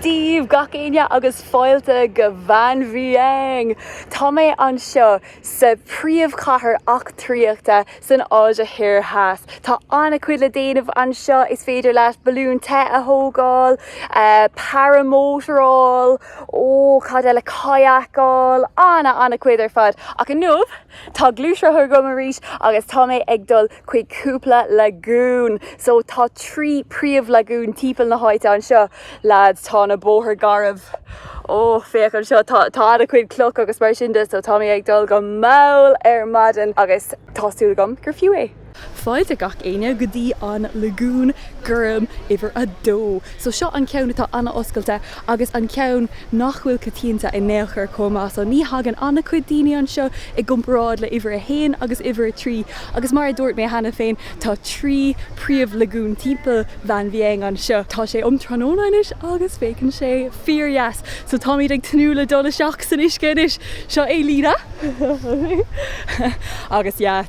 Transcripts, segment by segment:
Dia dhaoibh gach éinne agus fáilte go Vang Vieng! Tá mé anseo sa phríomhchathair eachtraíochta san Áise Thoir Theas. Tá an-chuid le déanamh anseo, is féidir leat balún te a thógáil, paramótaráil, Ó, cad eile kayak-áil? Ana, ana cuid ar fad. Ach inniu, tá gluaisrothar agam arís agus tá mé ag dul chuig cúpla lagún. So, tá trí príomh lagún timpeall na háite anseo. Lads, tá na bóithre garbh. Ó, féach anseo, tá, tá ana cuid cloch agus mar sin de, so tá mé ag dul go mall ar maidin agus tá súil agam gur fiú é. fáilte gach éinne go dtí an Lagoon gorm uimhir a dó. So seo an ceann atá an-oscailte agus an ceann nach bhfuil coitianta in aon chor chomh maith. So ní thagann an-chuid daoine anseo i gcomparáid le uimhir a haon agus uimhir a trí agus mar a dúirt mé cheana féin tá trí príomh lagoon timpeall Vang Vieng anseo. Tá sé um tráthnóna anois agus féachann sé fíor dheas. So táimid ag tnúth le dul isteach san uisce anois. Seo é Lena agus yeah.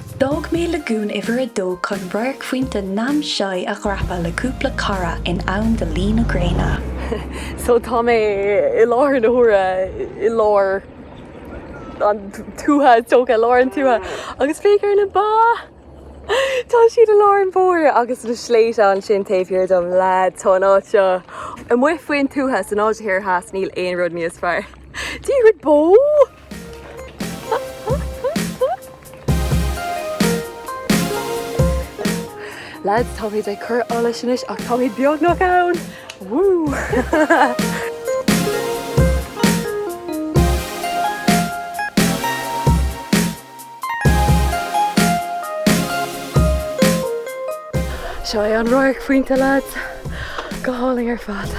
D'fhág mé Lagoon Uimhir 2 chun radharc phointe Nam Xay a dhreapadh le cúpla cara in am do luí na gréine. So tá mé i lár na huaire i lár an tuaithe, is dócha, i lár an tuaithe agus féach ar na ba! Tá siad i lár an bhóthair agus na sléibhte ansin taobh thiar dom. Leaids, tá an áit seo amuigh faoin tuath, san Áise Thoir Theas, níl aon rud níos fearr. Dia dhuit bó? Lads, táimid ag cur allais anois ach táimid beagnach ann! Woo! Seo é an radharc phointe lads! Go hálainn ar fad!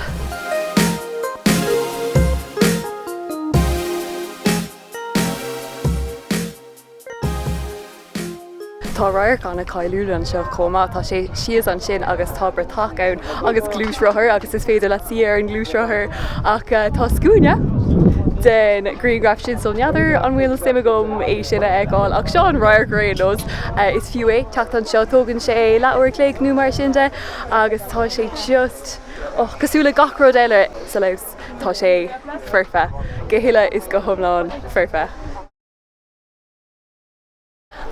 Tá radharc ana cáiliúil anseo chomh maith, tá sé síos ansin agus tá bratach ann. agus gluaisrothar agus is féidir leat suí ar an ngluaisrothar ach tá scuaine don ghrianghraf sin so n'fheadar an bhfuil suim agam é sin a fháil ach seo an radharc ar aon nós. Is fiú é teacht anseo, tógann sé leathuair an chloig nó mar sin de agus tá sé just, oh, cosúil le gach rud eile sa Laos, tá sé foirfe, go huile is go hiomlán foirfe.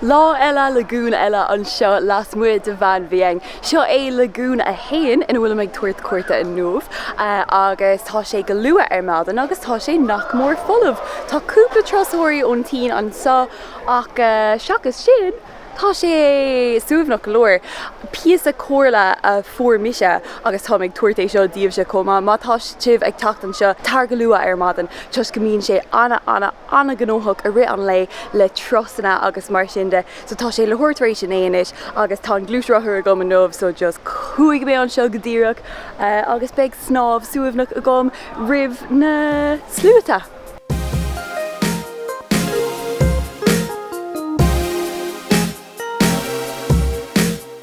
Lá eile, lagún eile anseo lasmuigh de Vang Vieng. Seo é Lagún 1 ina bhfuilim ag tabhairt cuairte inniu agus tá sé go luath ar maidin agus tá sé nach mór folamh. Tá cúpla turasóirí ón tSín anseo ach seachas sin tá sé suaimhneach go leor. Píosa comhairle a fuair mise agus táim ag tabhairt é seo díobhse chomh maith, má tá sibh ag teacht anseo, tar go luath ar maidin toisc go mbíonn sé ana ana an-ghnóthach i rith an lae le turasanna agus mar sin de so tá sé leathuair tar éis a naoi anois agus tá an gluaisrothar agam inniu so just chuaigh mé anseo go díreach agus beidh snámh suaimhneach agam roimh na sluaite!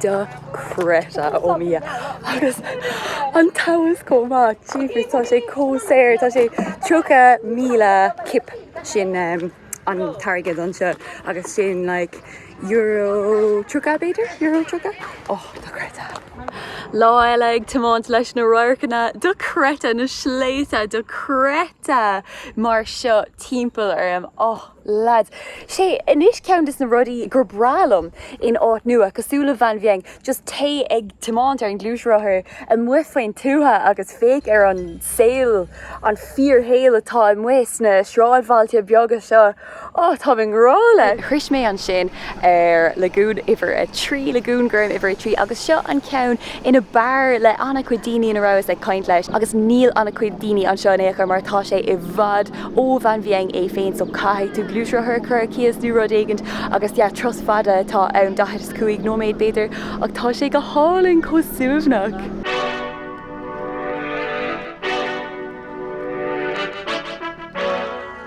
dochreidte ó Dhia agus an t-am seo chomh maith jeepers tá sé chomh saor tá sé 30,000 kip sin um, an t-airgead anseo agus sin like euro 30 b'fhéidir euro 30 oh dochreidte. Lá eile ag tiomáint leis na radharcanna dochreidte na sléibhte dochreidte mar seo timpeall orm oh. Lads. Sé anois ceann des na rudaí gur breá liom in áit nua, cosúil le Vang Vieng, just téigh ag tiomáint ar an gluaisrothar amuigh faoin tuath agus féach ar an saol, an fíorshaol atá amuigh sna sráidbhailte beaga seo. Ó, táim i ngrá leis! Shroich mé ansin ar Lagún Uimhir 3, Lagún Gorm Uimhir 3, agus seo an ceann ab fhearr le an-chuid daoine ina rabhas ag caint leis agus níl an-chuid daoine anseo in aon chor mar tá sé i bhfad ó Vang Vieng é féin so caithfidh tú gluaisrothar a chur ar cíos nó rud éigint agus yeah turas fada atá ann, 45 nóiméad b'fhéidir ach tá sé go hálainn, chomh suaimhneach.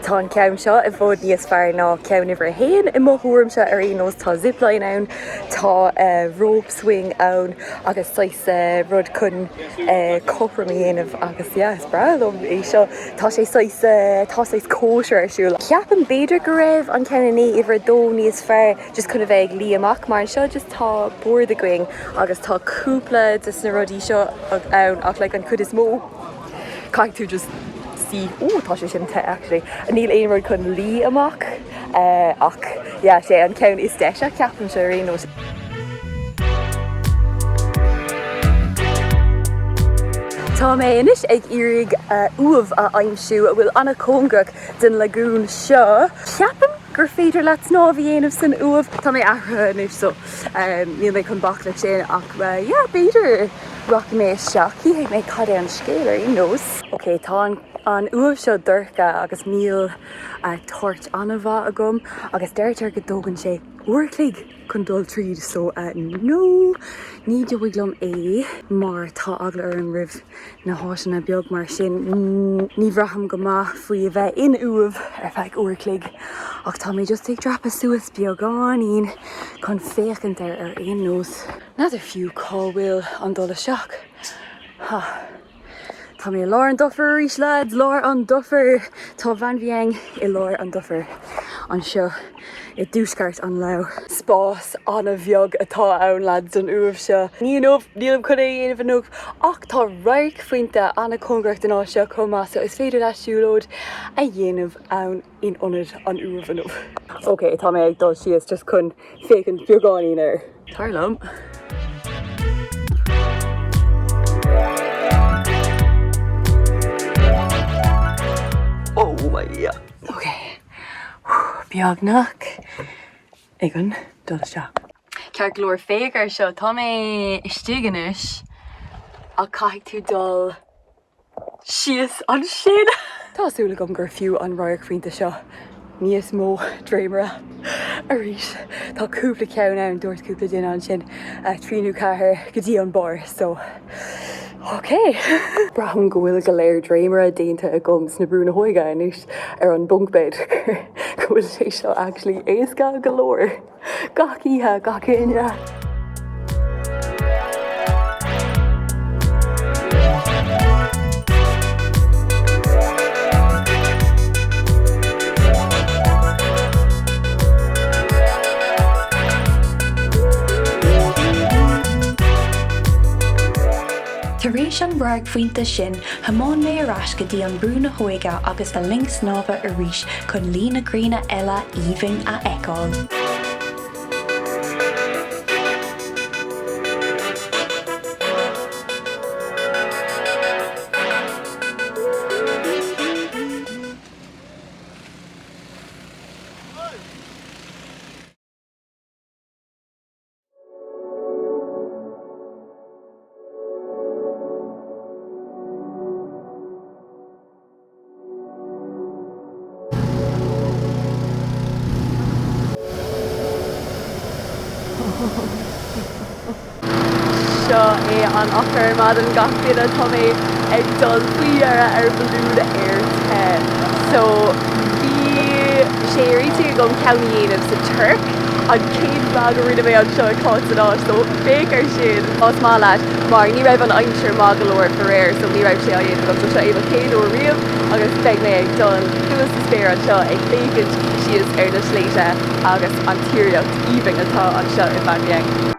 Tá an ceann seo i bhfad níos fearr ná ceann uimhir a haon, i mo thuairimse ar aon nós. Tá zipline ann, tá rope swing ann agus saghas rud chun cothrom a dhéanamh agus yeah is breá liom é seo. Tá sé saghas, tá saghas cóisir ar siúl. Ceapaim b'fhéidir go raibh an ceann in uimhir a dó níos fearr just chun a bheith ag luí amach mar anseo just tá bord againn agus tá cúpla des na rudaí seo ann ach like an chuid is mó, Caithfidh tú just suí. Ooh tá sé sin te actually. Níl aon rud chun luí amach ach yeah sé an ceann is deise ceapaimse ar aon nós. Tá mé anois ag iarraidh uaimh a aimsiú a bhfuil an-chóngarach den lagún seo. Ceapaim gur féidir leat snámh a dhéanamh san uaimh. Tá mé athraithe anois so. Níl mé chun bac le sin ach yeah, b'fhéidir rachaidh mé isteach, chífidh mé cad é an scéal ar aon nós. Ok, tá an uaimh seo dorcha agus níl torch an-mhaith agam agus deirtear go dtógann sé uair a chloig chun dul tríd so no, ní dóigh liom é mar tá eagla orm roimh na háiteanna beag mar sin. Ní bhraithim go maith faoi a bheith in uaimh ar feadh uair chloig ach tá mé just ag dreapadh suas beagáinín chun féachaint air ar aon nós. N'fheadar fiú cá bhfuil an dul isteach. Ha! Tá mé i lár an dufair arís lads, lár an dufair! Tá Vang Vieng i lár an dufair anseo. i dtuaisceart an Lao. Spás an-bheag atá ann, lads, don uaimh seo. Ní inniu, nílim chun é a dhéanamh inniu, ach tá radharcphointe an-chóngarach don áit seo chomh maith so is féidir leat siúlóid a dhéanamh ann in ionad an uaimh inniu. Ok, tá mé ag dul síos just chun féachaint beagáinín air. Tar liom. beagnach ag an dul isteach. Ceart go leor, féach air seo, tá mé istigh anois ach caithfidh tú dul síos ansin. Tá súil agam gur fiú an radharcphointe seo, níos mó dréimire arís, tá cúpla ceann ann, dúirt cúpla duine ansin, trí nó ceathair go dtí an barr so. Ok! Braithim go bhfuil go leor dréimire déanta agam sna brúnna hóige anois ar an bunk bed go bhfuil sé seo actually éasca go leor! Gach oíche, gach éinne! Tar éis an radharcphointe sin thiomáin mé ar ais go dtí an Brú na hÓige agus an linn snámha arís chun luí na gréine eile aoibhinn a fheiceáil. Seo é an-mhoch ar maidin gach duine, tá mé ag dul faoi dheireadh ar bhalún aer te. So, bhí. sé ar intinn agam ceann a dhéanamh sa Tuirc, an chéad vlag a rinne mé anseo i gCáit san Áis, so féach ar sin más maith leat, mar ní raibh an aimsir maith go leor faraor, so ní raibh sé á dhéanamh agam, so seo é mo chéad uair riamh agus beidh mé ag dul suas sa spéir anseo ag féachaint síos ar na sléibhte agus an tíreolaíocht aoibhinn atá anseo i Vang Vieng.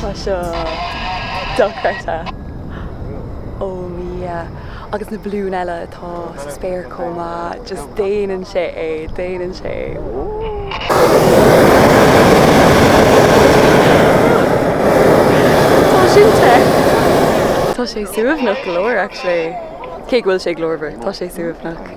Tá seo dochreidte. Oh yeah. Agus na balúin eile atá sa spéir chomh maith, just déanann sé é, déanann sé é. Tá sin te. Tá sé suaimhneach go leor actually. Cé go bhfuil sé glórmhar, tá sé suaimhneach.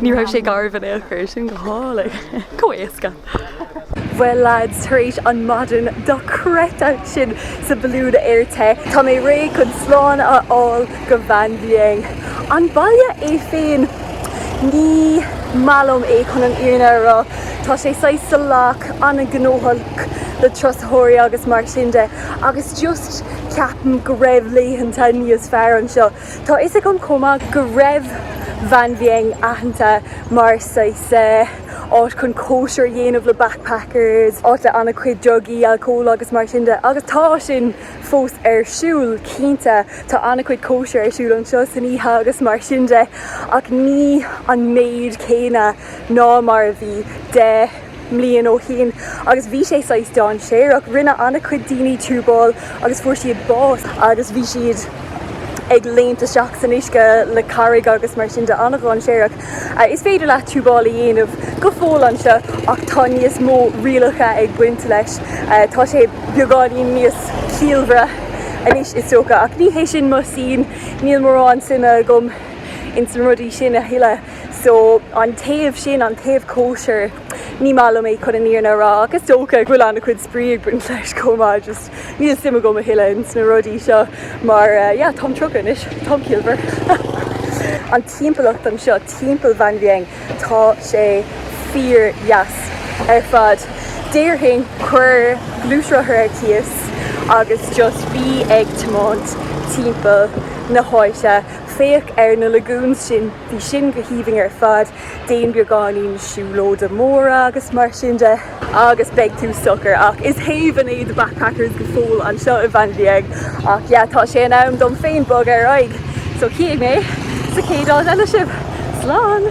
Ní raibh sé garbh in aon chor, sin go hálainn. Chomh éasca. Bhuel lads, tar éis an maidin dochreidte sin sa balún aer te, tá mé réidh chun slán a fhágáil go Vang Vieng. An baile é féin, ní maith liom é chun an fhírinne a rá, tá sé saghas salach, an-ghnóthach le turasóirí agus mar sin de, agus just ceapaim go raibh laethanta níos fearr anseo. Tá a fhios agam chomh maith go raibh Vang Vieng aitheanta mar saghas áit chun cóisir a dhéanamh le backpackers, áit le an-chuid drugaí, alcól agus mar sin de agus tá sin fós ar siúl cinnte, tá an-chuid cóisir ar siúl anseo san oíche agus mar sin de ach ní an méid céanna ná mar a bhí. mbliain ó shin agus bhí sé saghas dainséarach. Rinne an-chuid daoine tiúbáil agus fuair siad bás agus bhí siad ag léimt isteach san uisce le carraig agus mar sin de, an-dhainséarach. Is féidir leat tiúbáil a dhéanamh go fóill anseo ach tá níos mó rialacha ag baint leis. Tá sé beagáinín níos ciallmhaire anois is dócha ach ní hé sin mo, sin, níl mórán suime agam ins na rudaí sin a thuilleadh. So, an taobh sin, an taobh cóisir, ní maith liom é chun an fhírinne a rá ach is dócha go bhfuil an-chuid spraoi ag baint leis chomh maith, just níl suim agam a thuilleadh ins na rudaí seo mar, yeah, táim tríocha anois, táim ciallmhar. An timpeallacht anseo, timpeall Vang Vieng, tá sé fíor dheas ar fad. Déarfainn, cuir gluaisrothar ar cíos agus just bí ag tiomáint timpeall na háite, féach ar na lagoons sin, bhí sin go haoibhinn ar fad, déan beagáinín siúlóide mór-thimpeall agus mar sin de. agus beidh tú socair, ach is haven é The Backpackers go fóill anseo i Vang Vieng, ach yeah, tá sé in am dom féin bog ar aghaidh, so chífidh mé sa chéad áit eile sibh! Slán!